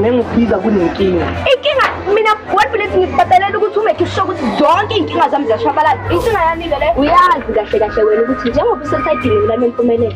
nengiphika kunenkinga inkinga mina kodwa lethi ngikubhatalela ukuthi ume ngisho ukuthi zonke iy'nkinga zami ziyashabalala inkinga yami-ke le uyazi kahle kahle wena ukuthi njengoba usesaydini mina nempumelelo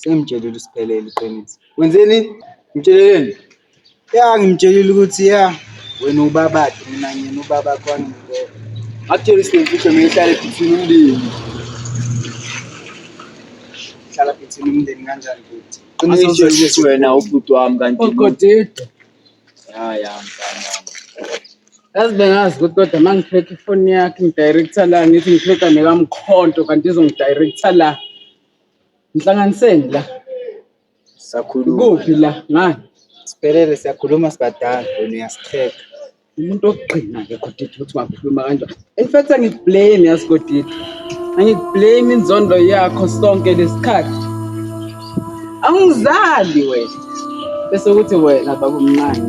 Sengimtshelile usiphelele iqiniso. Wenzeni? Ngitsheleleni? Ya ngimtshelile ukuthi ya wena ubabakhe mina ngiyena ubaba kwami ngibona. Akutshela isinemfihlo mina ihlale phithini umndeni. Hlala phithini umndeni kanjani futhi? Qinisho wena ubhuti wami kanti. Ogodide. Ya ya mfana. Yazi bengazi ukuthi kodwa uma ngiphethe ifoni yakhe ngidirector la ngithi ngiphetha nekamkhonto kanti izongidirector la. Ngihlanganiseni la. Sakhuluma. Kuphi la? Ngani? Siphelele siyakhuluma sibadala wena uyasicheka. Umuntu ogqina ke Godidi ukuthi ungakhuluma kanjani. In fact angikublame yazi Godidi. Angikublame inzondo yakho sonke lesikhathi. Angizali wena. bese kuthi wena babumncane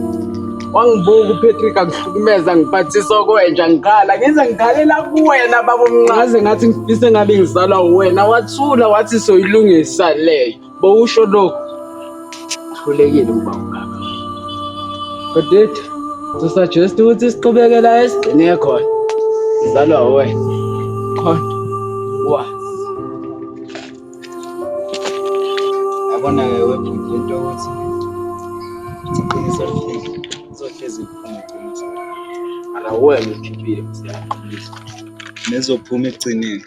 wangibuka uPatrick akuhlukumeza ngiphathisa okwenja ngikhala ngize ngikhalela kuwena babumnqaze ngathi ngifise ngabe ngizalwa uwena wathula wathi soyilungisa leyo bowusho lokhu uhlulekile ukuba ungaka kodid to suggest ukuthi siqhubekela esigcine khona ngizalwa uwena khona wazi yabona ke webhuti into ukuthi iqiniso lihlezi lizohlezi liphuma ala wena ukhiphile msiyaqinisa nezophuma ekugcineni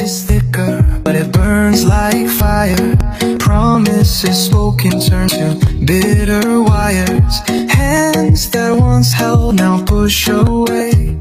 It's thicker, but it burns like fire. Promises spoken turn to bitter wires. Hands that once held now push away.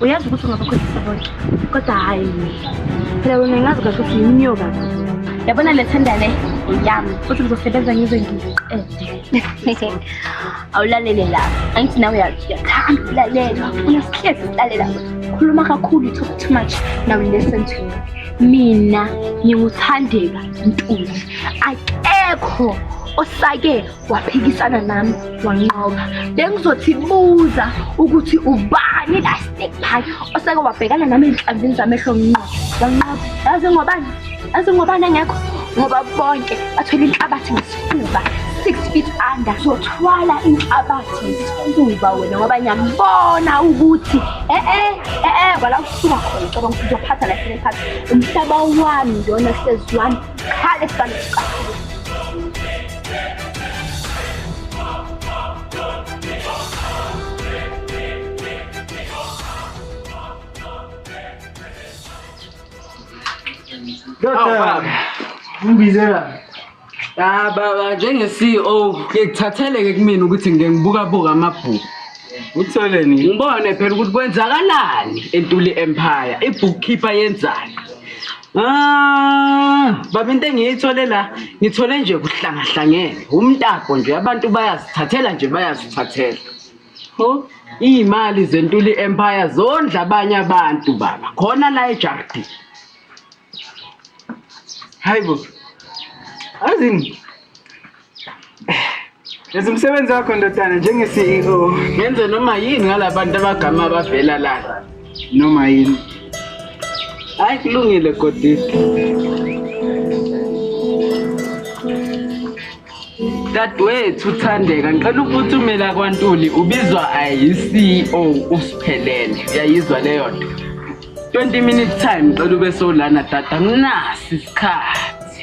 uyazi ukuthi ungabakhohlisa bonke kodwa hhayi phela wena ngazi kahle ukuthi yimnyoka yabona le thenda le yami futhi ngizosebenza ngize ngiqede awulalele la angithi nawe uyathanda ukulalelwa unesihlezi ukulalela khuluma kakhulu talk too much now listen to me mina nginguthandeka ntuli akekho osake waphikisana nami wanqoba bengizothi buza ukuthi ubani la stick pie oseke wabhekana nami ezinhlanzini zamehlo nqo wanqoba yazi ngobani yazi ngobani engekho ngoba bonke bathwele inhlabathi ngesifuba six feet under zothwala inhlabathi ngesifuba wena ngoba ngiyambona ukuthi e-e e-e kwala kusuka khona cabanga ukuthi uzophatha la sele phansi umhlaba wami lona hlezi wami Hadi sana. Doktor. Ngibizela. Ah baba njenge CEO ngikuthatheleke kumina ukuthi ngeke ngibuka buka amabhuku. Utholeni? Ngibone phela ukuthi kwenzakalani eNtuli Empire, ibookkeeper yenzani. Ah, baba into engiyithole la ngithole nje kuhlangahlangene umtapo nje abantu bayazithathela nje bayazithathela ho iy'mali zentuli empire zondla abanye abantu baba khona la ejardi hayi bo azini Yenza umsebenzi wakho ndodana njenge-CEO. Ngenze noma yini ngalabantu abagama abavela lana. Noma yini. Hayi kulungile Godisi. Dadwethu Thandeka ngicela ukuphumela kwaNtuli ubizwa ayi-CEO usiphelele. Uyayizwa leyo nto. 20 minutes time ngicela ube solana dada nginasi isikhathi.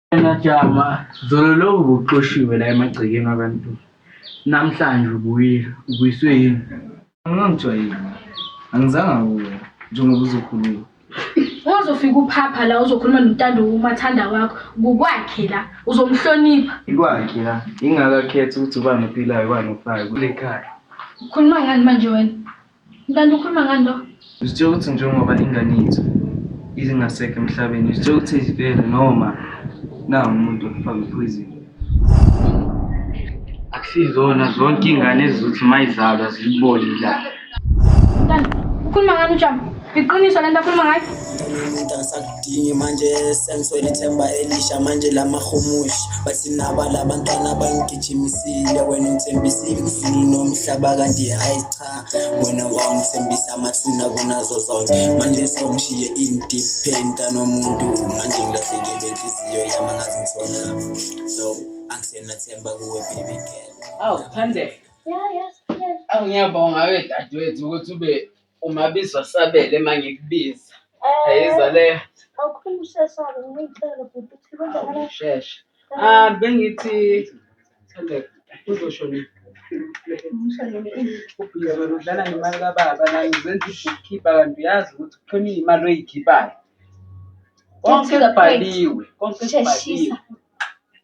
Wena jama zolo lo ubuxoshiwe la emagcekeni abantu namhlanje ubuyile ubuyiswe yini Angangithiwa yini? Angizanga kuwe njengoba uzokhuluma. Wazofika uphapha la uzokhuluma nontando umathanda wakho kukwakhe la uzomhlonipha. Ikwakhe la ingakakhethi ukuthi ubani ophilayo ubani ofayo kule khaya. Ukhuluma ngani manje wena? Kanti ukhuluma ngani lo? Uzitshela ukuthi njengoba ingane yethu izingasekho emhlabeni, uzitshela ukuthi izifele noma nawu umuntu ofaka ipoison. Akusizona zonke iy'ngane ezizothi uma izalwa zilibone la. Kanti ukhuluma ngani uJama? Iqiniso lento akhuluma ngayo? angisakudingi manje sengiswele ithemba elisha manje lamahumushi bathi naba labantwana bangigijimisile wena uthembisile kuzulu nomhlaba kanti hayi cha wena wangithembisa amathuna kunazo zonke manje sewungishiye independ kanomuntu manje ngilahlekelwe inhliziyo yami angazi ngisona so angisenathemba kuwe baby girl awu phandle awu ngiyabonga we dadewethu ukuthi ube umabizwa sabele uma ngikubiza eh, ayiza leyo awukhulu ushesha-ke ngiyicele bhuti ukuthi kwenzakala shesha um bengithi Ubhizolo udlala ngemali kababa nani uzenza i-bookkeeper kanti uyazi ukuthi kukhona iy'mali oy'khiphayo. Konke kubhaliwe, konke kubhaliwe.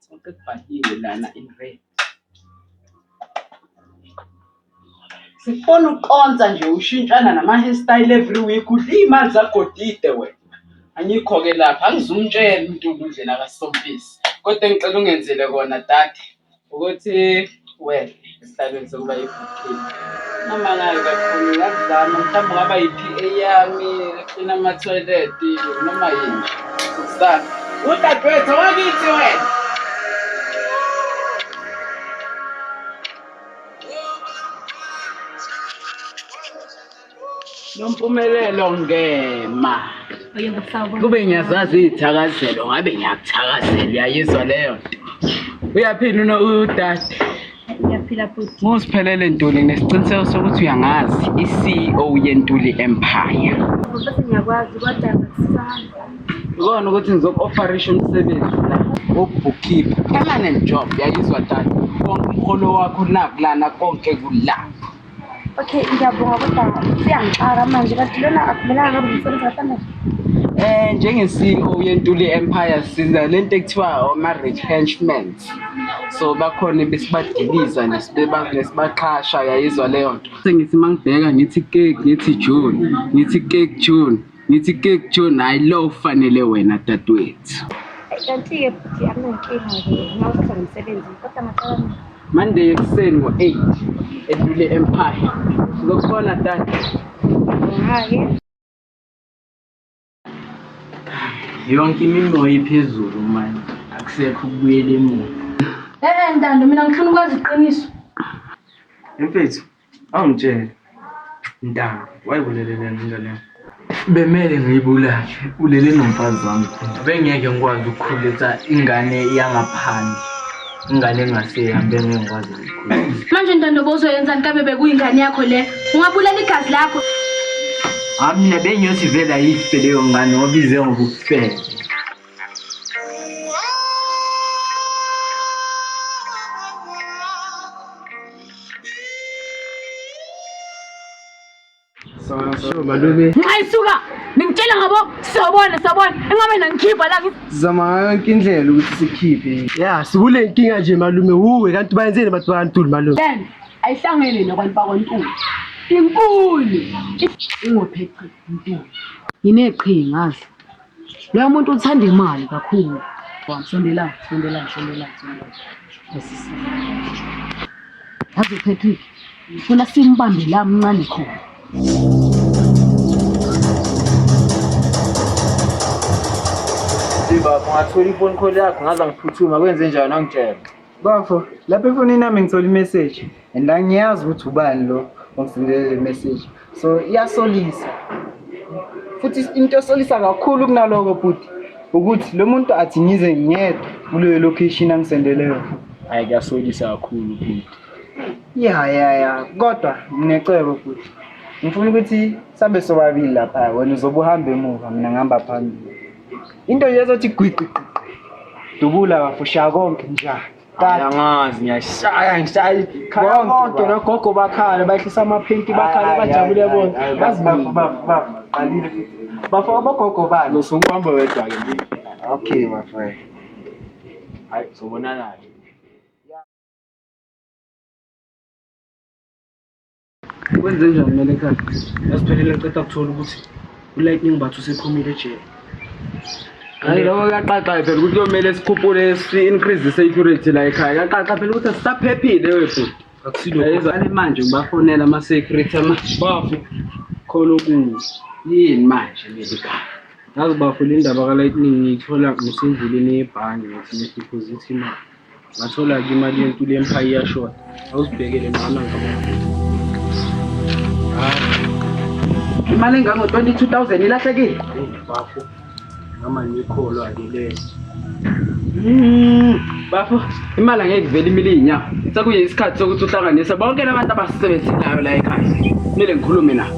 Konke kubhaliwe lana in red. Sifuna ukonsa nje ushintshana nama hair style every week udla iy'mali zagodide wena. Angikho-ke lapho angizumtshela uNtuli indlela kaSompisi kodwa engicela ungenzele kona dade ukuthi wehle esihlalweni sokuba yibhukhini. Unamanga-ke kakhulu ngingakuzama mhlawumbe ungaba yi-P_A yami eklina amathoyileti noma yini nje. Ngizame. Udadewethu owakithi wena. Nompumelelo ngema. Kube ngiyazazi izithakazelo ngabe ngiyakuthakazela uyayizwa leyo nto. Uyaphila uno udade. Ngiyaphila futhi. Ngosiphelele Ntuli nesiqiniseko sokuthi uyangazi i-CEO yeNtuli Empire. Baba sengiyakwazi kodwa ngisana. Uzona ukuthi ngizoku-ofarisha umsebenzi la wokubhukhipha permanent job yayizwa tata konke umholo wakho nakulana konke kulapho okay ngiyabonga kodwa siyangixaka manje kanti lona akumelanga kabe umsebenzi kafanele Eh njenge-CEO yeNtuli Empire siza lento ekuthiwa ama-retrenchments. So bakhona besibadiliza nesibaqhasha yayizwa leyo nto. Sengithi mangibheka ngithi cake ngithi June ngithi cake June Ngithi ke kujona hayi lo ufanele wena dadwethu. Kanti-ke futhi akunankinga-ke ngawuthatha nomsebenzi kodwa ngaqala mina. Monday ekuseni ngo-8 edlule empire. Ngizokubona dade. Hhayi. Yonke imimoya iphezulu manje. Akusekho ukubuyela emuva. Eh eh Ntando mina ngifuna ukwazi iqiniso. Mfethu, Awungitshele mntana wayibulele lena ingane yakho. Bemele ngiyibulale ulele nomfazi wami khona. Bengeke ngikwazi ukukhulisa ingane yangaphandle. Ingane engasehambi bengeke ngikwazi ukuyikhulisa. Manje ntando bozoyenzani kabe bekuyingane yakho le? Ungabulala igazi lakho. Hayi mina bengiyothi vele ayife leyo ngane obize ngobufebe. Sure, malume. Ngayisuka. Ningitshela ngabo sobona sobona. Engabe nangikhipha la ngi- Zama ngayo yonke indlela ukuthi sikhiphe. Ya, sikule nkinga nje malume. Wuwe kanti bayenzeni abantu bantuli malume? Ben ayihlangene nabantu bakwaNtuli. Inkulu. Ingopheqi inkulu. Ngineqhinga azi. Lo muntu uthanda imali kakhulu. Sondela, sondela, sondela, sondela. Yazi uPatrick, funa simbambe la mncane khona. Baba, ungathola iphone call yakho ngaze ngiphuthuma kwenze njani angitshela. Bafo, lapha efonini yami ngithola imessage and angiyazi ukuthi ubani lo ongisendelele le message. So iyasolisa. Futhi into esolisa kakhulu kunaloko bhuti ukuthi lo muntu athi ngize ngedwa kuleyo location angisendele yona. Hayi kuyasolisa kakhulu bhuti. Ya ya ya, kodwa nginecebo bhuti. Ngifuna ukuthi sambe sobabili lapha wena uzobe uhamba emuva mina ngihamba phambili. into yezothi gwiqiqiqi dubula bafo shaya konke nja angazi ngiyashaya ngishaya khaya konke nogogo bakhala bahlisa amaphenti bakhala bajabule bona baziqalile bafo abogogo bani usukuhamba wedwa ke okay my friend hayi sobonana Kwenze njani mina ekhaya? Yasiphelele ngiceda ukuthola ukuthi uLightning Bathu usephumile ejele. Hayi lokho kuyaqaxa phela ukuthi kuyomele sikhuphule si-increase i-security la ekhaya. Kuyaqaxa phela ukuthi asisaphephile webhuti. Akusilokho. manje ngibafonela ama-security ama bafo khona okunye. Yini manje leli khaya? Ngazi bafo le ndaba ka-Lightning ngiyithola ngisendleleni yebhange ngithi ngideposit imali. Ngathola-ke imali yentuli emphayi iyashoda. Awuzibhekele mama ngabona. Imali engango-twenty-two thousand ilahlekile. Hey, bafo. Mama ngikholwa-ke leso. Mm, bafo imali angeke ivele imile iy'nyawo sekuye isikhathi sokuthi uhlanganise bonke labantu abasisebenzelayo la ekhaya kumele ngikhulume nabo